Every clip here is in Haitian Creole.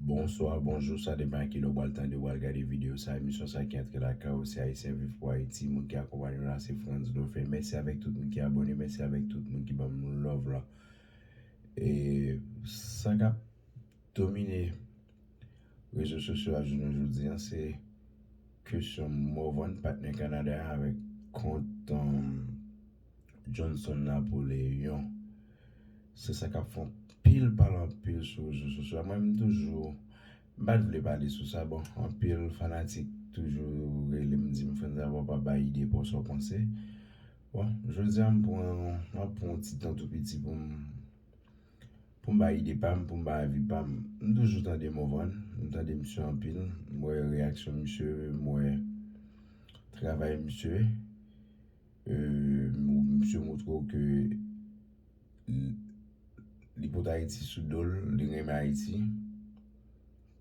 Bonswa, bonjou, sa depan a kilè ou pral tande, ou pral gade videyo sa, emisyon sa ki antre lakay ou se Ayisyen Viv Pou Ayiti, moun ki akonpaye nou la se Frantz Dofé, mèsi avèk tout moun ki abòne, mèsi avèk tout moun ki banm love la e sa kap domine rezo sosyo a jounen jodi an se kesyon morvan patnè Kanada avèk kont. Johnson Napoleon. Se sa k ap fè anpil pale anpil sou rezo sosyo a. Mwen menm toujou m pa t vle pale sou sa. Bon, anpil fanatik toujou rele m di m frantz a ou pa bay ide pa w sa w panse. Bon, jodi a m pran yon ti tan tou piti pou m pou m bay ide pa m, pou m bay avi pa m. M toujou tande Morvan, m tande misye anpil, m wè reyaksyon misye, m wè travay misye. Misye montre w ke li pot Ayiti sou do l, li renmen Ayiti.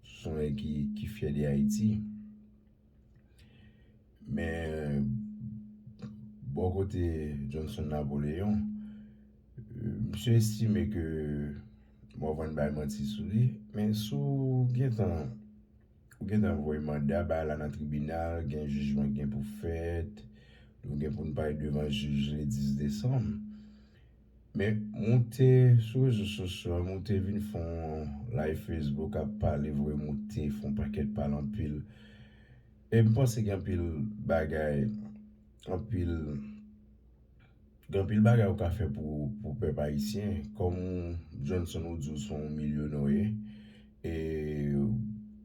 Se yon nèg ki fyè de Ayiti. Men, bò kote Johnson Napoléon, misye estime ke, bon avan n bay manti sou li, men si w gentan Ou gentan voye manda bay la nan tribinal, gen jijman ki gen pou fèt, nou gen pou n pale devan jij le 10 desanm. Men moute sou rezo sosyo, moute vin fon live Facebook ap pale vre, moute fon pakèt pale anpil. E m panse gen anpil bagay, anpil. Gen anpil bagay ou ka fè pou pèp ayisyen. Kòm Johnson ou di ou son w milyonoye, e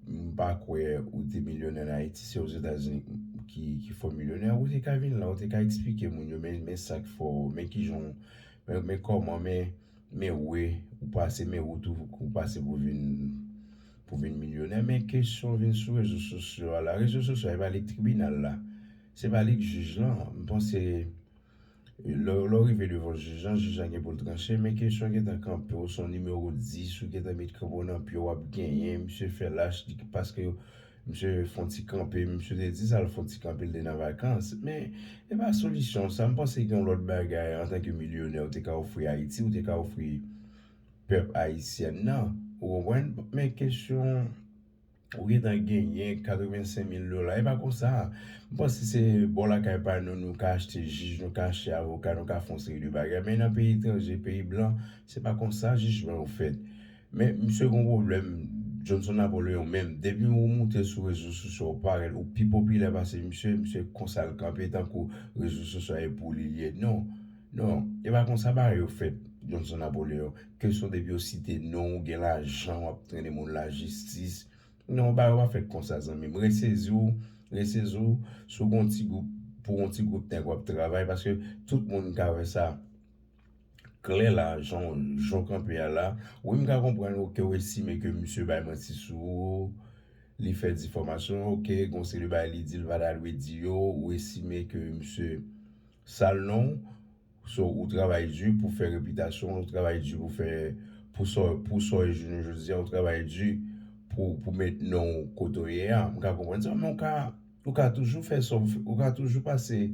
m pa kwè ou te milyonè an Ayiti, se Ozetazini ki fè w milyonè, ou te ka vin la, ou te ka eksplike moun yo men sa k fè w, men kijan w, men kòman, men we ou pase, men wout ou pase pou vin milyonè. Men kesyon vin sou rezo sosyo a la. Rezo sosyo a e pa li k tribinal la. Se pa li k jij lan, m panse lè w rive devan jij lan, jij lan gen pou l tranche men kesyon gentan kanpe w se yon nimewo 10 ou gentan met kanpe w nan pye w ap genyen misye fè lach li paske misye fè yon ti kanpe misye te di sa l fè yon ti kanpe l te nan vakans men e pa solisyon sa m panse gen yon lòt bagay antanke milyonè ou te ka ofri Ayiti ou te ka ofri pèp ayisyen nan ou konprann men kesyon Ou gentan genyen 85 mil dola. E pa konsa. M panse se bò lakay pa nou, nou ka achte jij, nou ka achte avoka, nou ka fè yon seri de bagay. Men nan peyi etranje, peyi blan, se pa konsa jijman yo fèt. Men misye gen yon pwoblèm, Johnson Napoléon menm, depi ou moute sou rezo sosyo ou parèt, ou pi popilè pase misye, misye konsa l kanpe tankou rezo sosyo a e pou li l ye. Non. Non. E pa konsa bagay yo fèt, Johnson Napoléon. Kesyon depi yo site non ou gen lajan wap trennen moun la jistis non bagay yo pa fèt konsa zanmim resezi w resezi w sou gen yon ti gwoup pou yon ti gwoup nèg wap travay paske tout moun ka wè sa klè la jan w jan w kanpe a la wi m ka konprann w ke w estime ke misye bay manti sou ou li fè difomasyon ok gen yon seri de bagay li di li pa ta dwe di yo ou estime ke misye sal non w. So ou travay di pou fè repitasyon w, ou travay di pou fè, pou sa w, pou sa w ye jounen jodi a, ou travay di pou, pou met non w kote w ye a. M ka konprann sa men ou ka, ou ka toujou fè sa w, ou ka toujou pase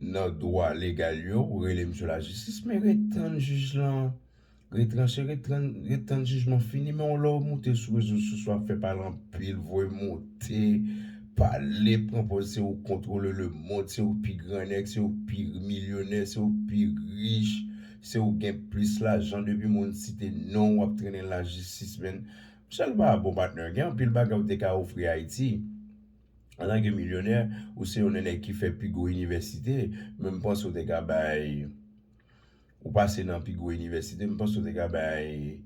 nan dwa legal yo, ou rele misye lajistis men ret tann jij lan. Ret tranche ret tran ret tann jijman fini men yon lè ou moute sou rezo soso ap fè pale anpil voye moute pale pran pòz se ou kontwole lemond se ou pi gran nèg se ou pi milyonè se ou pi rich se ou gen plis lajan depi moun site non ou ap trennen lajistis menn msye l pa bon patnè gen anpil bagay ou te ka ofri Ayiti antanke milyonè ou se yon nan nèg ki fè pi gwo inivèsite men m panse ou te ka bay Ou pase nan pi gwo inivèsite, m panse ou te ka bay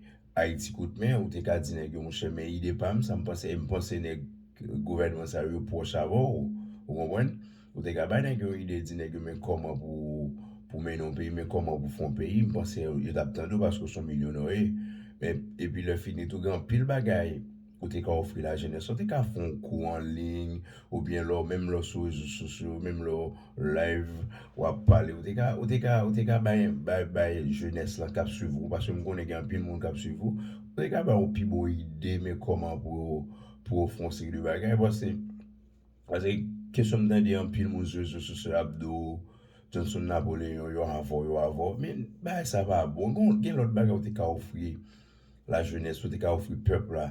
Ayiti kout men, ou te ka di nèg yo monchè men ide pa m sa m panse e m panse nèg gouvènman sa yo yo pwòch avè w, ou konprann, ou te ka bay nèg yo yon ide di nèg yo men kòman pou mennen yon peyi, men kòman pou fè yon peyi, m panse yo t ap tande w paske w s on milyonòye men epi lè fini tou gen anpil bagay. Ou te ka ofri lajenès la, ou te ka fè yon kou an liy, ou byen lè w, menm lè w sou rezo sosyo, menm lè w live, w ap pale, ou te ka, ou te ka, ou te ka bay, bay, bay jenès la k ap swiv ou, paske m konnen gen anpil moun k ap swiv ou, ou te ka ba yo pi bon ide men kòman pou yo, pou yo fè yon seri de bagay, pase, pase kesyon m tande anpil moun sou rezo sosyo ap di w, Johnson Napoléon yo avè w, yo avè w, men bagay sa pa bon, gen lòt bagay ou te ka ofri. la jeunesse ou te ka ofri pèp la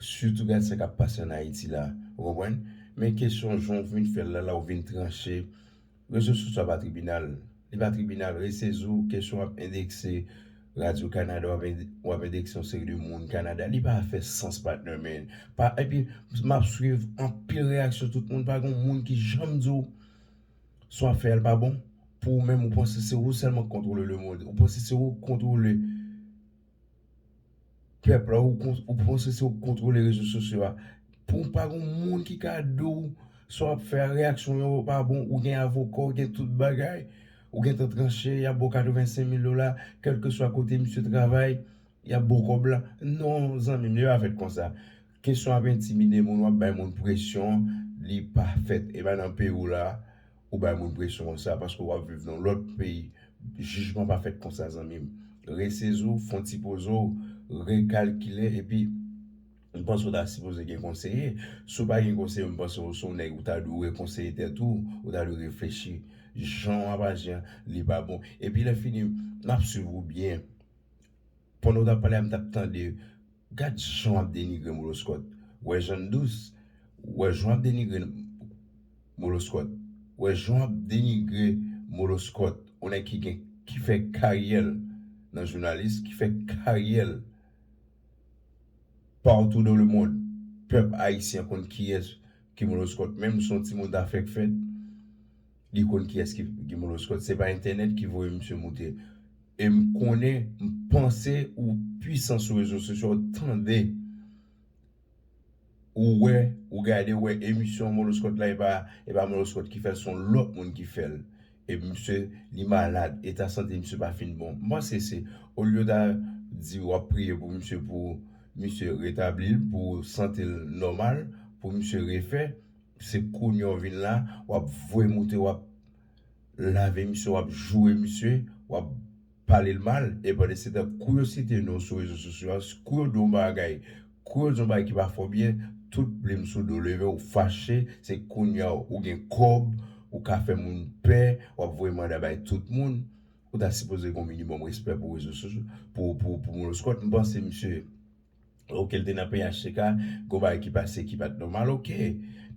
sitou gade sa kap pase an ayiti la ou konprann men kesyon jan ou vin fèl la la ou vin tranche rezo sosyo a pa tribinal li pa tribinal resezi ou kesyon wap endekse radyo kanada wap endekse yon seri de moun kanada li pa fè sans patnè men epi map swiv anpil reyaksyon tout moun pa gon moun ki janm di ou sa wap fè a li pa bon pou ou menm ou panse se ou sèlman ki kontwole lemond ou panse se ou ki kontwole Pèp la ou panse se ou k kontwole rezo sosyo a pou pa gon moun ki ka di w sa w ap fè a reyaksyon yo pa bon ou gen avoka w gen tout bagay ou gen tan tranche y ap ba w 85 mil dola kèlkeswa kote misye travay y ap ba w kòb la non zanmi m li pa fèt konsa. Kesyon ap entimide moun wap bay moun presyon li pa fèt epa nan peyiw la ou bay moun presyon konsa paske wap viv nan lòt peyi jijman pa fèt konsa zanmim reseziw fon ti pozew rekalkile epi mpanse ou ta sipoze gen konseye siw pa gen konseye mpanse ou son nèg ou ta dwe konseye tèt ou ou ta dwe reflechi janw ap aji an li pa bon epi lèfini map swiv ou byen. Pandan ou tap pale a m tap tande gad jan wap denigre moloskòt wè jan n dous wè jan wap denigre moloskòt wè jan wap denigre moloskòt yon nèg ki gen ki fè karyè l nan jounalis ki fè karyè l partou dan le mond pèp ayisyen konn kiyès ki moloskòt menm si yon timoun ta fèk fèt. Li konn kiyès ki Guy Moloskot. Se pa entènèt ki voye misye moute. E m konnen, m panse ou pwisan sou rezo sosyo, ou tande, ou wè, ou gade, ou wè emisyon Moloskot la, e pa Moloskot ki fè l, se yon lòt moun ki fè l. E misye, li malad, eta sante misye pa fin bon. M panse se, olye yo ta di w ap priye pou misye, pou misye retabli l, pou sante l nòmal, pou misye refè. Se kounya w vin la, w ap voye moute, w ap lave misye, w ap joure misye, w ap pale l mal. E pandansetan, kou yo site non w sou rezo sosyo a, kou yo di w yon bagay, kou yo di w yon bagay ki pa fè w byen, tout plim sou do w leve, ou fache, se kounya ou gen kòb, ou ka fè moun pè, w ap voye manda bay tout moun. Ou ta sipoze gen yon minimòm respè pou rezo sosyo, pou Moloskòt. M panse misye. Ok l te nan PHTK gon bagay ki pase ki pat nòmal ok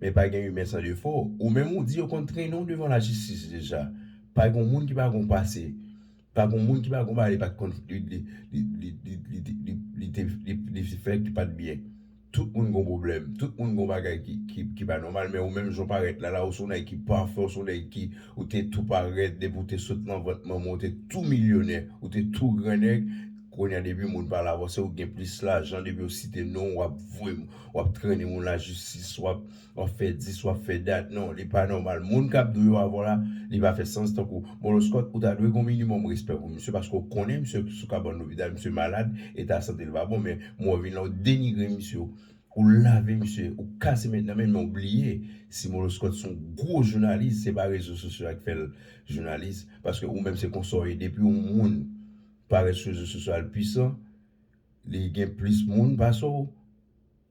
men pa gen imen san defo ou menm ou di yo konn trennen w devan lajistis deja pa gon moun ki pa gon pase pa gon moun ki pa gon bagay li pat konn li te fè ki pat byen tout moun gon pwoblèm tout moun gon bagay ki pa nòmal men ou menm jan w parèt la la ou se yon nèg ki pafè ou se yon nèg ki ou te tou parèt depi ou te sot nan vant manman w te tou milyonè ou te tou gran nèg Konya depi moun pale avèw sew gen plis lajan depi yo site nonw wap voye wap trennen moun la jistis wap fè dis wap fè dat non li pa nòmal moun kap dwe yo avèw la li pa fè sans tankou moloskòt ou ta dwe gen yon minimòm respè pou misye paske ou konnen misye sou kabann lopital misye malad eta santel pa bon men moun an vin la ou denigre misye ou lave misye ou kase met nan men men ou bliye si moloskòt son gwo jounalis se pa rezo sosyo a ki fèl jounalis paske ou menm se konsa ou ye depi yon moun Parèt sou rezo sosyo al pwisan, li gen plis moun pase w,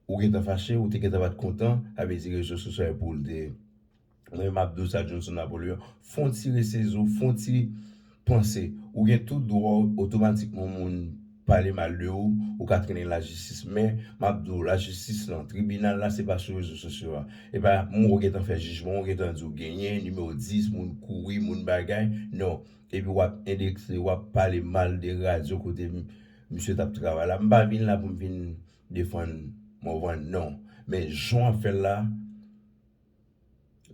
ou gentan fache, ou te gentan pa t kontan, sa vle di rezo sosyo a pou l te. Mwen menm m ap di w sa Johnson Napoléon, fè yon ti resezi w, fè yon ti panse, ou gen tout dwa w otomatikman yon moun pale mal de ou, ou ka trennen lajistis men m ap di w lajistis lan, tribinal la se pa sou rezo sosyo a, e pa moun ou gentan fè jijman, ou gentan di w genyen, nimewo 10, moun kouri, moun bagay, non. Epi wap endekse wap pale mal de radio kote misye tap travay la. M pa vin la pou m vin defann Morvan non. Men jan wap fè l la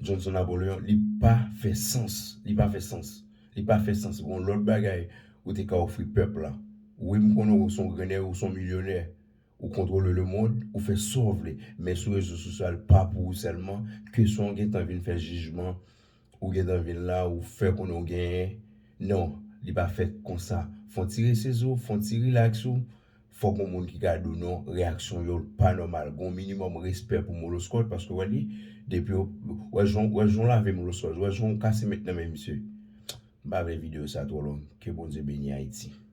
Johnson Napoléon li pa fè sans. Li pa fè sans. Li pa fè sans. Gon lòt bagay ou te ka ofri pèp la. Wi m konnen ou son grennè ou son milyonè. Ou kontwole lemond. Ou fè sa w vle. Men sou rezo sosyal pa pou ou sèlman. Kesyon w gen tan vin fè jijman. Ou gentan vin la ou fè konnen ou genyen non li pa fèt konsa fon ti rese sou ou fon ti rilaks ou fòk yon moun ki ka di w non reyaksyon yo pa nòmal gon minimòm respè pou moloskòt paske wè li depi yo wè jan wè jan w lave moloskòt wè jan w kase met nan men misye m pa vle videyo sa twò long ke Bondye beni Ayiti.